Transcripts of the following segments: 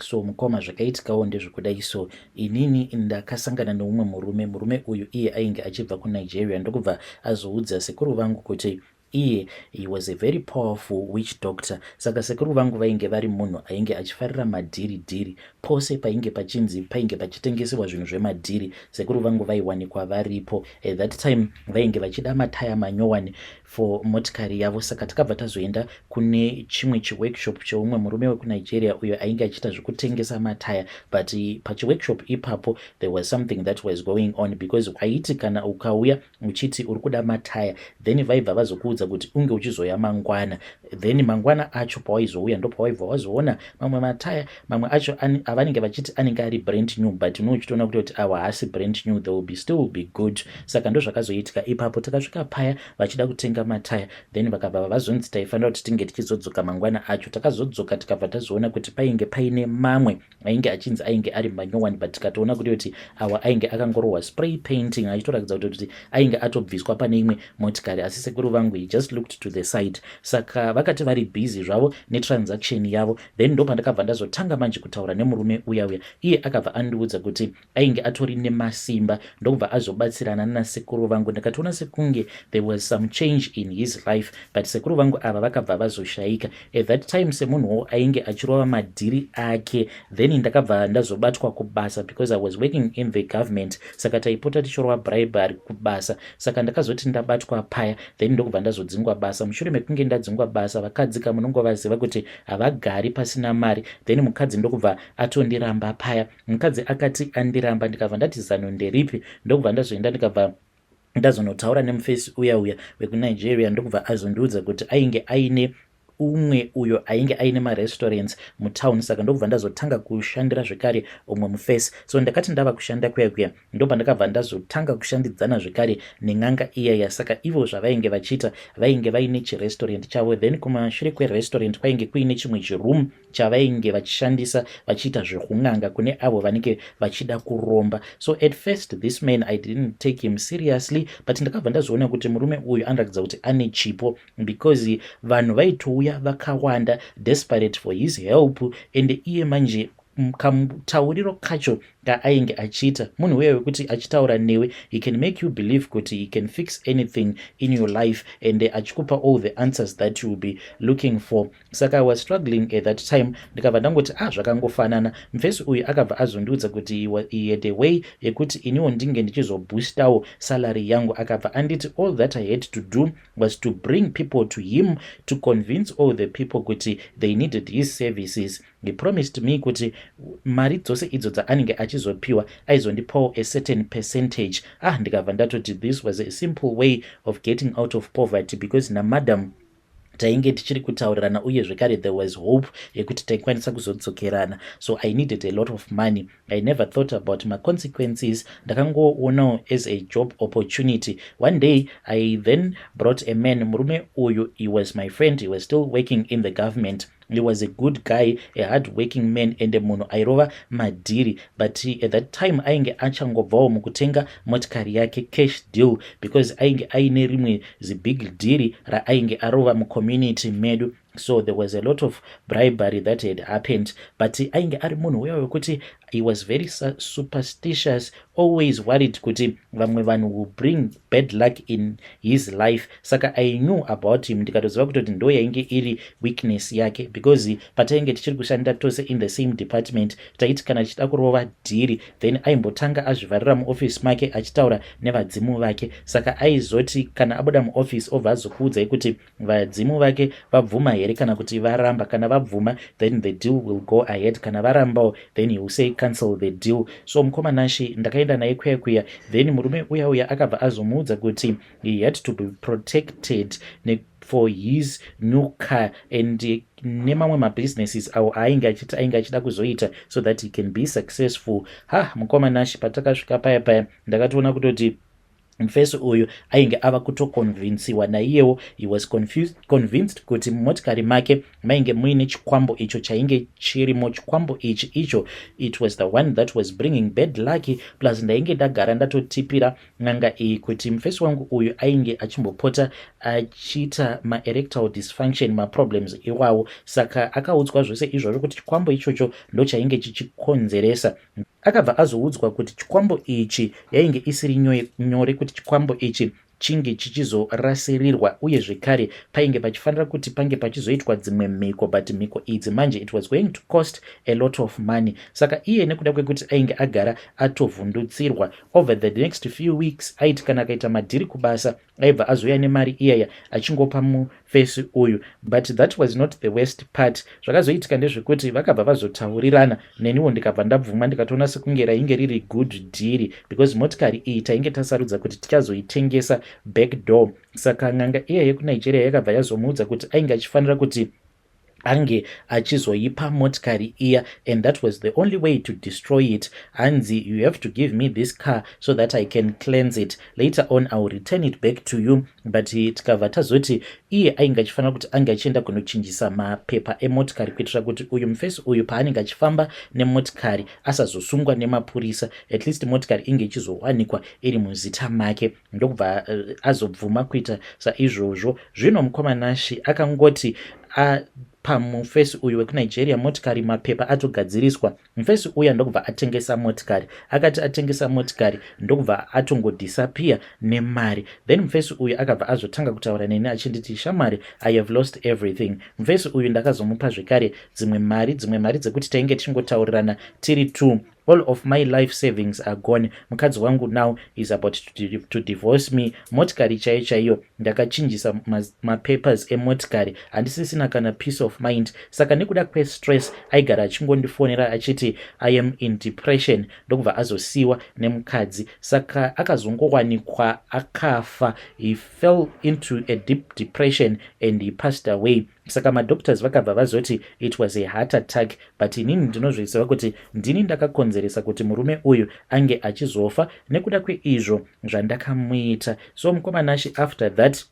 so mukoma zvakaitikawo ndezvekudai so inini ndakasangana neumwe murume murume uyu iye ainge achibva kunigeria ndokubva azoudza sekuru vangu kuti iye he was a very powerful witch doctor saka sekuru vangu vainge vari munhu ainge achifarira madhiri dhiri pose painge pachinzi painge pachitengesewa zvinhu zvemadhiri sekuru vangu vaiwanikwa varipo at that time vainge vachida mataya manyowani for motikari yavo saka takabva tazoenda kune chimwe chiworkshop cheumwe murume wekunigeria uyo ainge achiita zvekutengesa mataya but pachiworkshop ipapo there was something that was going on because aiti kana ukauya uchiti uri kuda mataya then vaibva vazokuudza kuti unge uchizoya mangwana then mangwana acho pawaizouya ndopawaibva wazoona mamwe mataya mamwe acho avanenge vachiti anenge ari brand new but no uchitoona kuti kuti awa haasi brand new they will be still be good saka ndozvakazoitika ipapo takasvika paya vachida kutenga mataya then vakabva vazonzi taifanira kuti tinge tichizodzoka mangwana acho takazodzoka tikabva tazoona kuti painge paine mamwe ainge achinzi ainge ari manyowani but tikatoona kuti kuti awa ainge akangorohwa spray painting achitorakidza kuti kuti ainge atobviswa pane imwe motikari asi sekuru vangu he just looked to the side saka vakati vari busy zvavo netransaction yavo Then ndopandakabva ndazotanga manje kutaura nemurume uya uya iye akabva andiudza kuti ainge atori nemasimba ndokubva azobatsirana nasekuru vangu ndakatoona sekunge there was some change in his life but sekuru vangu ava vakabva vazoshayika at that time semunhuwo ainge achirova madhiri ake then ndakabva ndazobatwa kubasa because i was working in the government saka taipota tichirova bribery kubasa saka ndakazoti ndabatwa paya then ndokubva ndazodzingwa basa mushure mekunge ndadzingwa basa vakadzika munongovaziva kuti havagari pasina mari then mukadzi ndokubva atondiramba paya mukadzi akati andiramba ndikabva ndati zano nderipi ndokubva ndazoenda ndikabva ndazonotaura nemufesi uya uya wekunigeria ndokubva azondiudza kuti ainge aine umwe uyo ainge aine marestaurants mutown saka ndokubva ndazotanga kushandira zvekare umwe mufesi so ndakati ndava kushanda kuya kuya ndopandakabva ndazotanga kushandidzana zvekare nen'anga iya yasaka ivo zvavainge vachiita vainge vaine chirestaurant chavo then kumashure kwerestaurant kwainge kuine chimwe chiroom chavainge vachishandisa vachiita zvekun'anga kune avo vanenge vachida kuromba so at first this man i didn't take him seriously but ndakabva ndazoona kuti murume uyu anoratidza kuti ane chipo because vanhu vaitouya vakawanda desperate for his help and iye manje kamutauriro kacho kaainge achiita munhu uya wekuti achitaura newe he can make you believe kuti he can fix anything in your life and achikupa all the answers that you will be looking for saka i was struggling at that time ndikabva ndangoti ah zvakangofanana mfesi uyu akabva azondiudza kuti he had a way yekuti iniwo ndinge ndichizoboostawo salary yangu akabva anditi all that i had to do was to bring people to him to convince all the people kuti they needed his services He promised me kuti mari dzose idzo dzaanenge achizopiwa aizondipawo a certain percentage. Ah, ndikabva ndatoti this was a simple way of getting out of poverty because namadam tainge tichiri kutaurirana uye zvekare there was hope yekuti taikwanisa kuzodzokerana so i needed a lot of money i never thought about maconsequences ndakangoonawo as a job opportunity one day i then brought a man murume uyu he was my friend he was still working in the government He was a good guy, a hard working man ende munhu airova madhiri but at that time ainge achangobvawo mukutenga motikari yake cash deal because ainge aine rimwe zibig dhiri raainge arova mucommunity medu so there was a lot of bribery that had happened but ainge ari munhu uya wekuti he was very superstitious always worried kuti vamwe vanhu will bring bad luck in his life saka i knew about him ndikatoziva kutoti ndo yainge iri weakness yake because patainge tichiri kushanda tose in the same department taiti kana tichida kurova dhiri then aimbotanga azvivharira muoffice make achitaura nevadzimu vake saka aizoti kana abuda muoffice obva azokuudzai kuti Vadzimu vake vabvuma here kana kuti varamba? Kana vabvuma then the deal will go ahead, kana varambawo then he will say cancel the deal. So mukoma Nashi ndakaenda naye kuya kuya, then murume uya uya akabva azomuudza kuti he had to be protected ne for his new car and eh, nemamwe mabusinesses awo aainge achiti ainge achida kuzoita so that he can be successful ha mukoma nashi patakasvika paya paya ndakatoona kutoti mfesi uyu ainge ava kutokonvinsiwa naiyewo he was confused, convinced kuti mumotikari make mainge muine chikwambo icho chainge chirimo chikwambo ichi icho it was the one that was bringing bad lucky plus ndainge ndagara ndatotipira n'anga iyi kuti mfesi wangu uyu ainge achimbopota achiita maerectal dysfunction maproblems iwawo saka akaudzwa zvose izvozvo kuti chikwambo ichocho ndochainge chichikonzeresa Akabva azoudzwa kuti chikwambo ichi yainge isiri nyore kuti chikwambo ichi chinge chichizorasirirwa uye zvekare painge pachifanira kuti pange pachizoitwa dzimwe mhiko but mhiko idzi manje it was going to cost a lot of money saka iye nekuda kwekuti ainge agara atovhundutsirwa over the next few weeks aiti kana akaita madhiri kubasa aibva azouya nemari iyaya achingopa mufesi uyu but that was not the worst part zvakazoitika ndezvekuti vakabva vazotaurirana neniwo ndikabva ndabvuma ndikatoona sekunge rainge riri good dhiri because motikari iyi tainge tasarudza kuti tichazoitengesa back door saka n'anga iya yekunigeria yakabva yazomuudza kuti ainge achifanira kuti ange achizoipa motikari iya and that was the only way to destroy it hanzi you have to give me this car so that i can cleanse it later on iwill return it back to you but tikabva tazoti iye ainge achifanira kuti ange achienda kunochinjisa mapepa emotikari kuitira kuti uyu mufesi uyu paanenge achifamba nemotikari asazosungwa nemapurisa at least motikari inge ichizowanikwa iri muzita make ndokubva azobvuma kuita saizvozvo zvino mukoma nashi akangoti apa mufesi uyu wekunigeria motikari mapepa atogadziriswa mufesi uya ndokubva atengesa motikari akati atengesa motikari ndokubva atongodisappear nemari then mufesi uyu akabva azotanga kutaura neni achinditi shamwari i have lost everything mufesi uyu ndakazomupa zvekare dzimwe mari dzimwe mari dzekuti tainge tichingotaurirana tiri two all of my life savings are gone mukadzi wangu now is about to, to divorce me motikari chaiyo chaiyo ndakachinjisa mapapers ma emotikari handisisina kana peace of mind saka nekuda kwestress aigara achingondifonera achiti i am in depression ndokubva azosiyiwa nemukadzi saka akazongowanikwa akafa he fell into a deep depression and he passed away saka madoctors vakabva vazoti it was a heart attack but inini ndinozviziva kuti ndini ndakakonzeresa kuti murume uyu ange achizofa nekuda kweizvo zvandakamuita so mukomanashi after that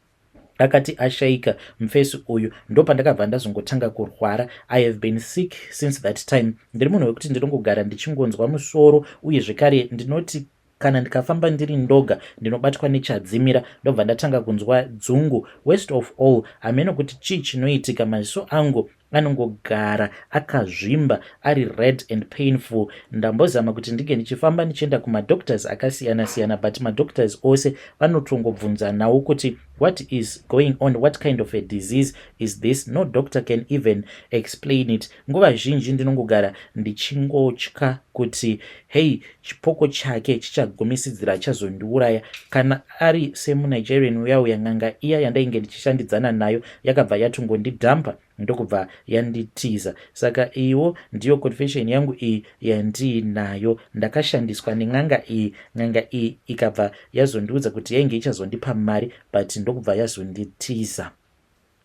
akati ashaika mufesi uyu ndopandakabva ndazongotanga kurwara i have been sick since that time ndiri munhu wekuti ndinongogara ndichingonzwa musoro uye zvekare ndinoti Kana ndikafamba ndiri ndoga ndinobatwa nechadzimira ndobva ndatanga kunzwa dzungu. Worst of all hameno kuti chii chinoitika maziso angu anongogara akazvimba ari red and painful. Ndambozama kuti ndinge ndichifamba ndichienda kumadoctors akasiyana siyana but madoctors ose vanotongobvunzanawo kuti what is going on what kind of a disease is this no doctor can even explain it Nguva zhinji ndinongogara ndichingotya kuti hei chipoko chake chichagumisidzira achazondiuraya. Kana ari semuNigerian uya uya, n'anga iya yandainge ndichishandidzana nayo yakabva yatongondidhampa ndokubva yanditiza. Saka iyiwo ndiyo confession yangu iyi yandiinayo. Ndakashandiswa nen'anga iyi, n'anga iyi ikabva yazondiudza kuti yainge ichazondipa mari but ndokubva yazonditiza.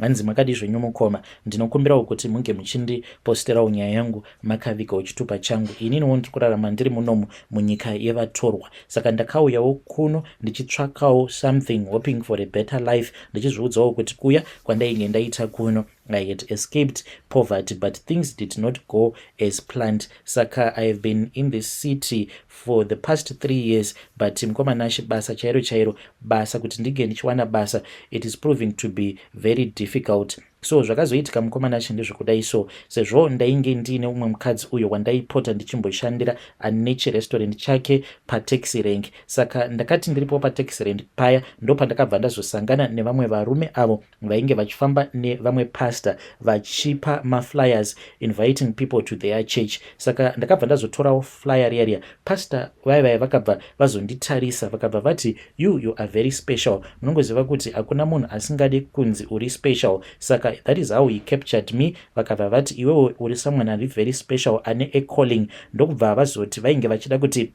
Hanzi makadii zvenyu mukoma, ndinokumbirawo kuti munge muchindiposterawo nyaya yangu makavigawo chitupa changu. Ininiwo ndiri kurarama ndiri munomu munyika yevatorwa, saka ndakauyawo kuno ndichitsvakawo something hoping for a better life, ndichizviudzawo kuti kuya kwandainge ndaita kuno I had escaped poverty but things did not go as planned, saka I have been in this city for the past three years but mukoma nashe basa chairo chairo basa kuti ndinge ndichiwana basa it is proving to be very difficult so zvakazoitika mukoma nashe ndezvekudai so sezvo ndainge ndiine umwe mukadzi uyo wandaipota ndichimboshandira ane chirestaurant chake pataxi rank saka ndakati ndiripo pataxi rank paya ndopandakabva ndazosangana nevamwe varume avo vainge vachifamba nevamwe pastor vachipa maflyers inviting people to their church saka ndakabva ndazotorawo flyer riya riya pastor vaye vaye vakabva vazonditarisa vakabva vati you you are very special munongoziva kuti hakuna munhu asingade kunzi uri special saka that is how he captured me vakabva vati iwewo uri someone ari very special ane acalling ndokubva vazoti vainge vachida kuti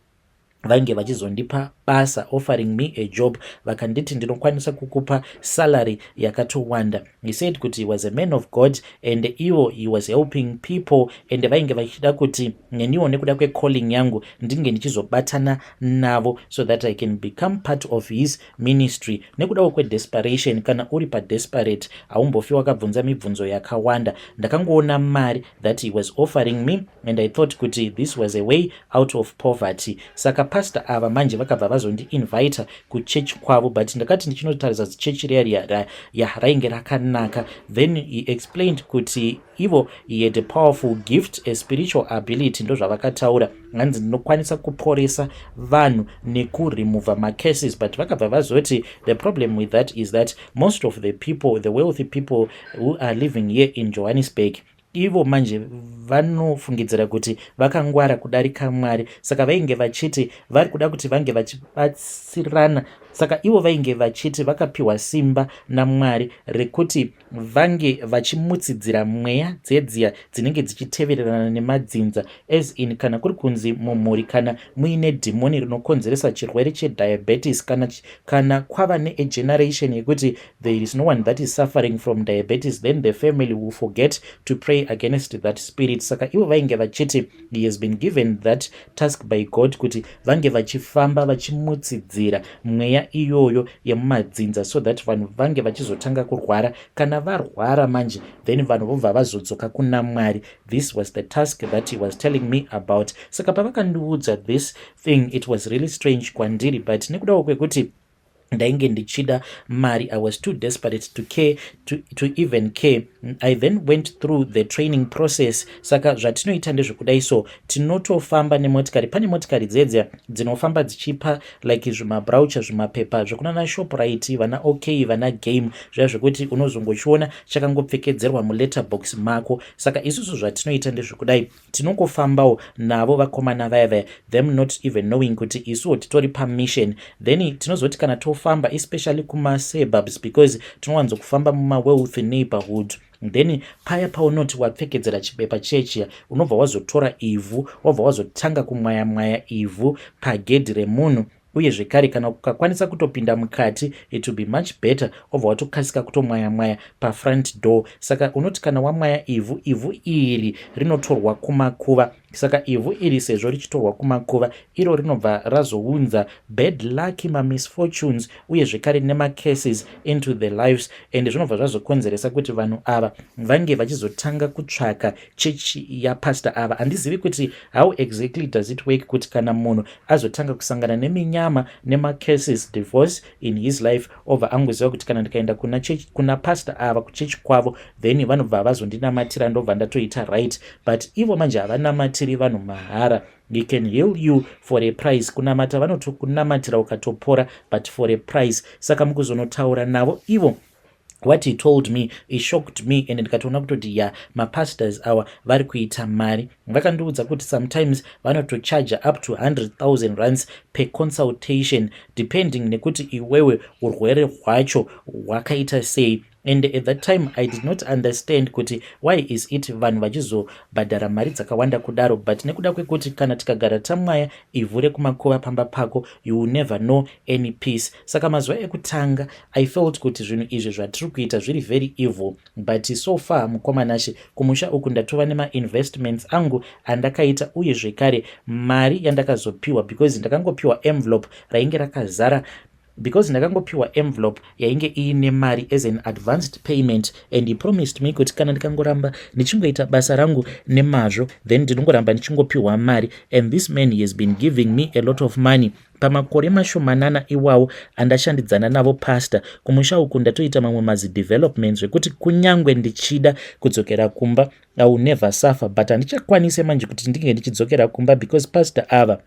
vainge vachizondipa basa offering me a job vakanditi ndinokwanisa kukupa salary yakatowanda he said kuti he was a man of god and ivo he was helping people and vainge vachida kuti neniwo nekuda kwecalling yangu ndinge ndichizobatana navo so that i can become part of his ministry nekudawo kwedesperation kana uri padesperate haumbofi wakabvunza mibvunzo yakawanda ndakangoona mari that he was offering me and I thought kuti this was a way out of poverty saka pastor ava manje vakabva vazondiinvita kuchechi kwavo but ndakati ndichinotarisa zichechi riya riya ya rainge rakanaka then he explained kuti ivo he had a powerful gift a spiritual ability ndozvavakataura hanzi ndinokwanisa kuporesa vanhu nekuremova macases but vakabva vazoti the problem with that is that most of the people the wealthy people who are living here in johannesburg Ivo manje vanofungidzira kuti vakangwara kudarika Mwari, saka vainge vachiti vari kuda kuti vange vachibatsirana. Saka ivo vainge vachiti vakapiwa simba naMwari rekuti vange vachimutsidzira mweya dzedziya dzinenge dzichitevererana nemadzinza, as in kana kuri kunzi mumhuri kana muine dhimoni rinokonzeresa chirwere chediabetes kana, kana kwava neegeneration yekuti There is no one that is suffering from diabetes then the family will forget to pray against that spirit. Saka ivo vainge vachiti he has been given that task by God kuti vange vachifamba vachimutsidzira mweya iyoyo yemumadzinza so that vanhu vange vachizotanga kurwara. Kana varwara manje then vanhu vobva vazodzoka kuna Mwari. This was the task that he was telling me about. Saka pavakandiudza this thing it was really strange kwandiri but nekudawo kwekuti ndainge ndichida mari i was too desperate to care to, to even care i then went through the training process saka zvatinoita ndezvekudai so tinotofamba nemotikari pane motikari dzedze dzinofamba dzichipa like zvimabraucha zvimapepa zvekunana shoprite vana ok vana game zviya zvekuti unozongochiona chakangopfekedzerwa muletterbox mako saka isusu zvatinoita ndezvekudai tinongofambawo navo vakomana vaya vaya them not even knowing kuti isuwo titori pamission then tinozoti kana tofamba especially kumasurbubs because tinowanzo kufamba mumawealth neighborhood then paya paunoti wapfekedzera chibepa chechiya unobva wazotora ivhu wabva wazotanga kumwayamwaya ivhu pagedhi remunhu uye zvekare kana kukakwanisa kutopinda mukati it will be much better obva watokasika kutomwaya mwaya pafront door saka unoti kana wamwaya ivhu ivhu iri rinotorwa kumakuva saka ivhu iri sezvo richitorwa kumakuva iro rinobva razounza bad lucky mamisfortunes uye zvekare nemacases into the lives and zvinobva zvazokonzeresa kuti vanhu ava vange vachizotanga kutsvaka church yapastor ava handizivi kuti how exactly does it work kuti kana munhu azotanga kusangana neminyama nemacases divorce in his life obva angoziva kuti kana ndikaenda kuna, kuna pastor ava kuchechi kwavo then vanobva vazondinamatira ndobva ndatoita right but ivo manje havanamatiri vanhu mahara he can heal you for a price kunamata vanotokunamatira ukatopora but for a price saka mukuzonotaura navo ivo what he told me he shocked me and ndikatoona kutoti ya mapastors awa vari kuita mari vakandiudza kuti sometimes vanotocharger up to 100000 runs per consultation depending nekuti iwewe urwere hwacho hwakaita sei and at that time i did not understand kuti why is it vanhu vachizobhadhara mari dzakawanda kudaro but nekuda kwekuti kana tikagara tamwaya ivhu rekumakuva pamba pako you will never know any peace Saka mazuva ekutanga I felt kuti zvinhu izvi zvatiri kuita zviri very evil but so far mukoma Nashe kumusha uku ndatova nemainvestments angu andakaita uye zvekare mari yandakazopiwa because ndakangopiwa envelope rainge rakazara because ndakangopiwa envelope yainge iine mari as an advanced payment and he promised me kuti kana ndikangoramba ndichingoita basa rangu nemazvo then ndinongoramba ndichingopiwa mari and this man he has been giving me a lot of money Pamakore mashomanana iwawo andashandidzana navo pastor, kumusha uku ndatoita mamwe mazidevelopment zvekuti kunyangwe ndichida kudzokera kumba I will never suffer but handichakwanise manje kuti ndinge ndichidzokera kumba because pastor ava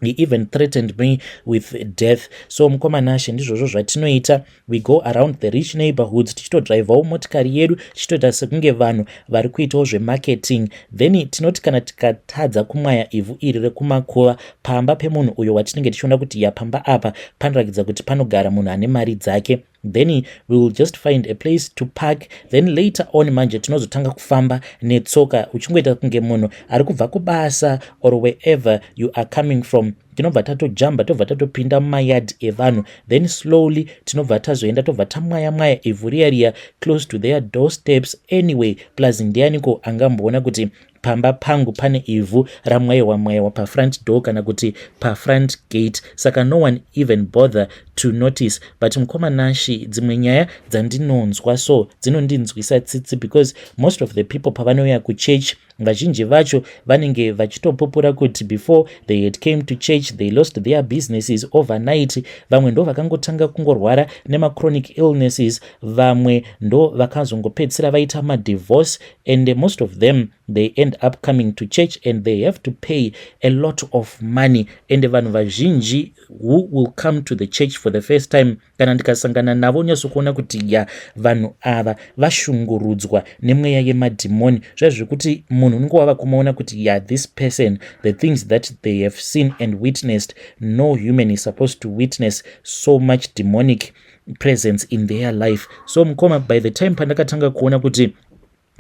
he even threatened me with death so mukoma nashe ndizvozvo zvatinoita we go around the rich neighborhoods tichitodrivawo motikari yedu tichitoita sekunge vanhu vari kuitawo zvemarketing then tinoti kana tikatadza kumwaya ivhu iri rekumakuva pamba pemunhu uyo watinenge tichiona kuti yapamba apa panorakidza kuti panogara munhu ane mari dzake then wewill just find a place to park then later on manje tinozotanga kufamba netsoka uchingoita kunge munhu ari kubva kubasa or wherever you are coming from tinobva tatojamba tobva tatopinda mumayard evanhu then slowly tinobva tazoenda tobva tamwaya mwaya ivhu riya riya close to their door steps anyway plus ndianiko angamboona kuti pamba pangu pane ivhu ramwaiwa mwaiwa pafront door kana kuti pafront gate saka no one even bother to notice but mukoma nashi dzimwe nyaya dzandinonzwa so dzinondinzwisa tsitsi because most of the people pavanouya kuchurch vazhinji vacho vanenge vachitopupura kuti before they had came to church they lost their businesses overnight vamwe ndo vakangotanga kungorwara nemachronic illnesses vamwe ndo vakazongopedzisira vaita madivorce and most of them they end up coming to church and they have to pay a lot of money and vanhu vazhinji who will come to the church for the first time kana ndikasangana navo nyatsokuona kuti ya vanhu ava vashungurudzwa nemweya yemadhimoni zviya zvekuti munhu unenge wava kumaona kuti ya this person the things that they have seen and witnessed no human is supposed to witness so much demonic presence in their life so mukoma by the time pandakatanga kuona kuti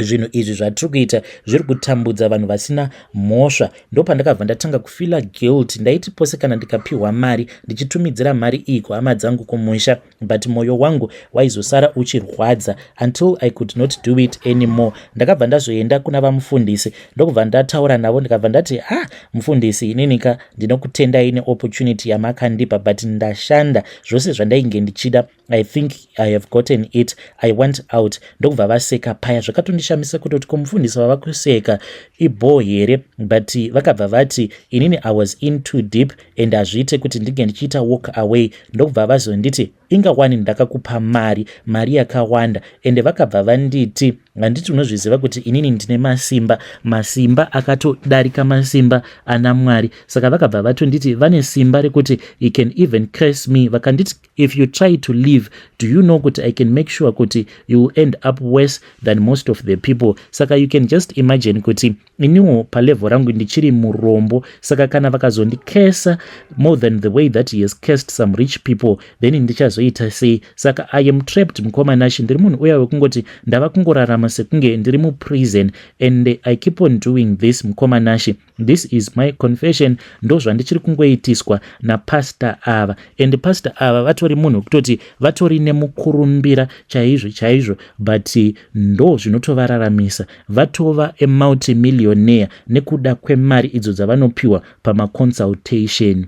zvinhu izvi zvatiri kuita zviri kutambudza vanhu vasina mhosva ndopandakabva ndatanga kufila guilt ndaiti pose kana ndikapiwa mari ndichitumidzira mari iyi kuhama dzangu kumusha but mwoyo wangu waizosara uchirwadza until i could not do it anymore ndakabva ndazoenda kuna vamufundisi ndokubva ndataura navo ndikabva ndati ha ah, mufundisi ininika ndinokutendai neopportunity yamakandipa but ndashanda zvose zvandainge ndichida i think i have gotten it i went out ndokubva vaseka paya zvakatondishamisa kutoti ko mufundisi vava kuseka ibhoo here but vakabva vati inini i was in too deep and hazviite kuti ndinge ndichiita walk away ndokubva vazonditi inga wani ndakakupa mari mari yakawanda ende vakabva vanditi handiti unozviziva kuti inini ndine masimba masimba akatodarika masimba ana mwari saka vakabva vatonditi vane simba rekuti he can even case me vakanditi if you try to leave do you know kuti i can make sure kuti you will end up worse than most of the people saka you can just imagine kuti iniwo palevel rangu ndichiri murombo saka kana vakazondikesa more than the way that he has cased some rich people then ndichazoita sei saka i am trapped mukoma nashi ndiri munhu uya wekungoti ndava kungorarama sekunge ndiri muprison and i keep on doing this mukoma nashi This is my confession ndozvandichiri kungoitiswa napastor ava and pastor ava vatori munhu wekutoti vatori nemukurumbira chaizvo chaizvo but ndo zvinotovararamisa vatova amultimillionaire nekuda kwemari idzo dzavanopiwa pamaconsultation